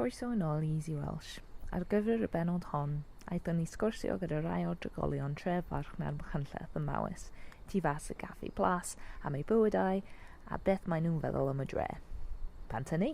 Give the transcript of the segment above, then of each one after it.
Croeso yn ôl i Easy Welsh. Ar gyfer y benod hon, aethon ni sgwrsio gyda rai o'r drigolion tref Farchna'r Machynlleth ym Mawes, tu fas y Gaffi Plas, am eu bywydau a beth maen nhw'n feddwl am y dre. Pan tynnu!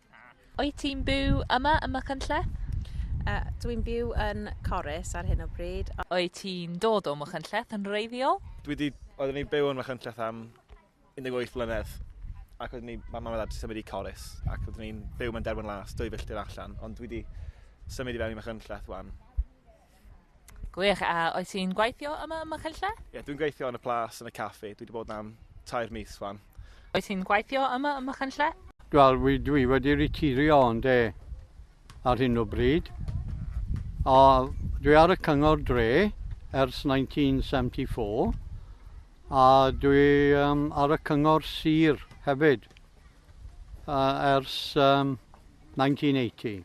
Wyt ti'n byw yma ym Machynlleth? Uh, Dwi'n byw yn Corus ar hyn o bryd. Wyt ti'n dod o Machynlleth yn reiddiol? Dwi di, oeddwn i'n byw yn Machynlleth am 18 mlynedd ac oeddwn ni, mae mam a dad symud i Corus ac oeddwn ni'n byw mewn derwen las, dwy filltir allan, ond dwi di symud i fewn i Machynlleth wan. Gwych, a oes ti'n gweithio yma ym Machynlleth? Ie, yeah, dwi'n gweithio yn y plas, yn y caffi. Dwi wedi bod yna am tair mis fan. Oes ti'n gweithio yma ym Machynlleth? Wel, dwi wedi retirio ond e ar hyn o bryd. A dwi ar y cyngor dre ers 1974 a dwi um, ar y cyngor sir hefyd uh, ers um, 1980.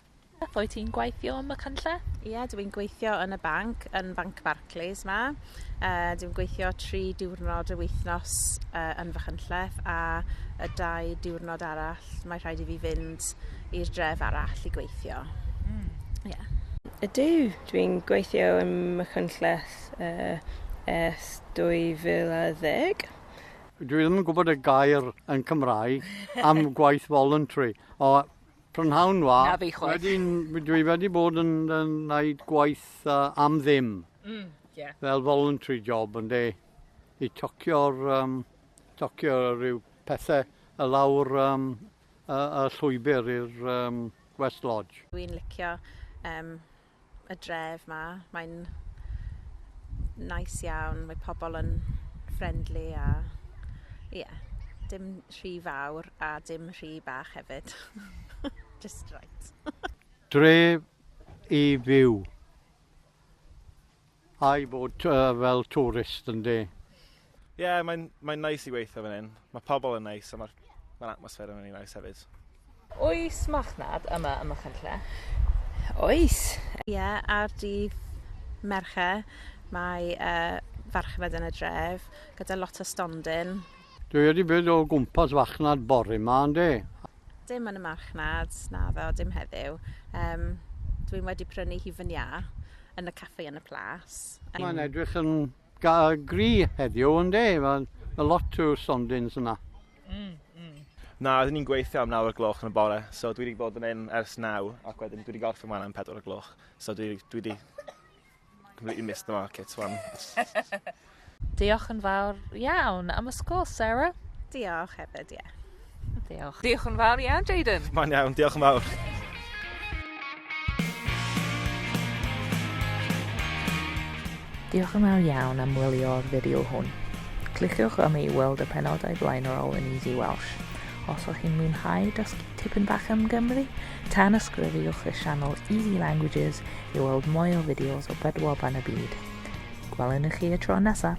Wyt ti'n gweithio ym Machynlleth? Ie, dw i'n gweithio yn y banc, yn Banc Barclays 'ma. Yy dwi'n gweithio tri diwrnod yr wythnos yy yn Fachynlleth a y dau diwrnod arall mae rhaid i fi fynd i'r dref arall i gweithio. Mm. Ie. Ydw, dwi'n gweithio ym Machynlleth yy ers 2010. Dwi ddim yn gwybod y gair yn Cymraeg am gwaith voluntary o Prynhawn wa. Na fi chwaith. Wedyn dwi wedi bod yn, yn wneud gwaith uh, am ddim. Mm, yeah. Fel voluntary job yn de. I tocio'r um, tocio rhyw pethau y lawr um, y, y llwybr i'r um, West Lodge. Dwi'n licio um, y dref 'ma. Mae'n neis iawn, mae pobl yn friendly a ie, dim rhy fawr a dim rhy bach hefyd. Just right. Dref i fyw. I bod fel twrist ynde? Ie, mae'n mae neis i weithio fan hyn. Mae pobl yn neis a mae'r mae atmosffer yn rili neis hefyd. Oes marchnad yma ym Machynlleth? Oes. Ie, ar dydd Mercher mae yy farchnad yn y dref gyda lot o stondin. Dwi wedi bod o gwmpas fachnad bore ma ynde? Dim yn y marchnad, naddo, dim heddiw. Yym, dwi'n wedi prynu hi fan iâ, yn y caffi yn y plas. Yym. Mae'n edrych yn ga- yy gry heddiw ynde? Mae'n a lot o stondins yna. Mm, mm. Na, rydyn ni'n gweithio am nawr o'r gloch yn y bore, so dwi wedi bod yn un ers naw, ac wedyn dwi wedi gorffen wan am pedwar o'r gloch, so dwi, dwi wedi... Completely missed the market one. Diolch yn fawr iawn am y sgol, Sarah. Diolch hefyd, ie. Yeah. Diolch. Diolch yn fawr iawn, Jaden. Mae'n iawn, diolch yn fawr. Diolch yn fawr iawn am wylio'r fideo hwn. Cliciwch am i weld y penodau blaenorol yn Easy Welsh. Os o'ch chi'n mwynhau dysgu tipyn bach am Gymru, tan ysgrifiwch y sianel Easy Languages I weld mwy o fideos o bedwaban y byd. Gwelwn i chi y tro nesaf!